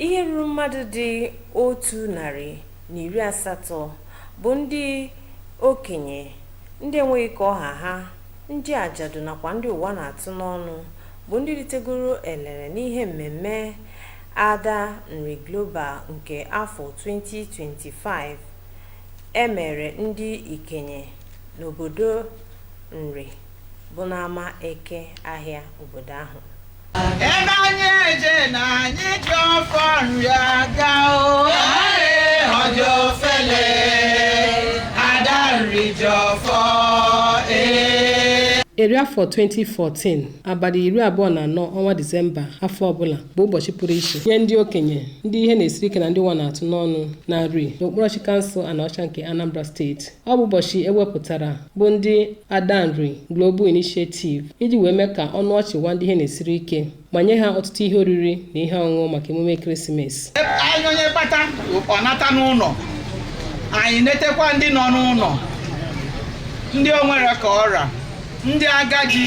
Ihe ruru mmadụ dị otu narị na iri asatọ bụ ndị okenye, ndị enweghị ka ọ ha ha, ndị ajadu nakwa ndị ụwa na-atụ n'ọnụ bụ ndị ritegoro elele n'ihe mmemme Ada Nri Global nke afọ 2025 e mere ndị ikenye n'obodo Nri. bụ n'ama Eke Ahịa obodo ahụ. Ebe anyị eje na anyị ji ọfọ Nri aga o. Ọ dịrọ ofele, Ada Nri ji ọfọ ee. Eri afọ 2014 abalị iri abụọ na anọ ọnwa Disemba afọ ọbụla bụ ụbọchị pụrụ iche nye ndị okenye ndị ihe na-esiri ike na ndị ụwa na-atụ n'ọnụ na Nri n'okpuru ọchịchị kansụl Anaọcha nke Anambra steeti. ọ bụ ụbọchị e wepụtara bụ ndị Ada Nri Global Initiative iji wee mee ka ọnụ ọchị waa ndị ihe na-esiri ike ma nye ha ọtụtụ ihe oriri na ihe ọṅụṅụ maka emume krismas anyị onye kpata ọ nata n'ụlọ anyị netekwa ndị nọ n'ụlọ ndị o nwere ka ọ ra ndị agadi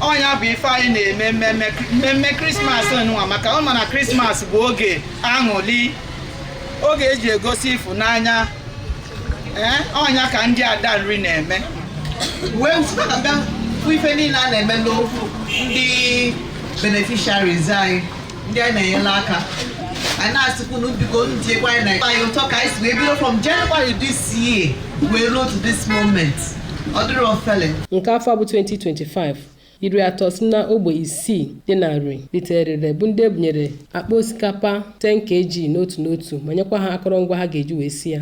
ọ nya bụ ife anyị na-eme mmemme mmemme krismas nunwa maka ọ ma na krismas bụ oge aṅụli oge e ji egosi ịfụnanya ee ọ nya ka ndị Ada Nri na-eme wee site ka bịa fụ ife niile a na-eme n'okwu ndị beneficiaries anyị ndị anyị na-enyela aka anyị na-asịkwu na biko njikwa anyị na anyị ụtọ ka anyị si wee bido from January this year wee ruo to this moment ọ dịrọ ofele nke afọ bụ 2025 iri atọ si na ogbe isii dị na Nri ritere erere bụ ndị e bunyere akpa osikapa 10 kg n'otu n'otu ma nyekwa ha akụrụngwa ha ga-eji wee si ya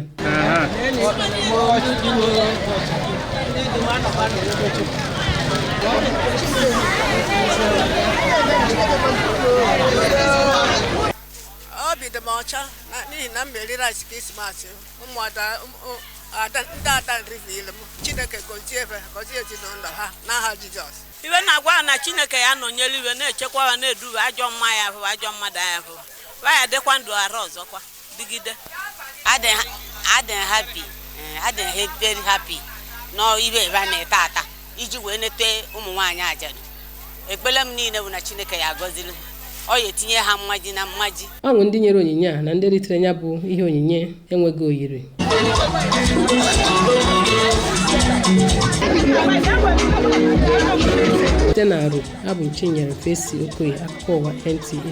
obi dị m ọcha n'ihi na m eri rice krismas ụmụada ndị Ada Nri niile m chineke gozie ebe gozie ezinụlọ ha n'aha jizọs ive na-agwa ha na chineke ya nọnyere iwe na-echekwa ha na-eduba ajọ mma ya ahụ ajọ mmadụ ya ahụ wa ya dịkwa ndụ arọ ọzọkwa dịgide adị m happy adị m very happy n'ihe ebe a na-ete ata iji wee nete ụmụ nwaanyị ajadu ekpere m niile bụ na chineke ya agọziri ọ ya etinye ha mmaji na mmaji ọṅụ ndị nyere onyinye a na ndị ritere ya bụ ihe onyinye enweghị oyiri site na Nri abụ m Chinyere Fesi Okoye akụkọ ụwa NTA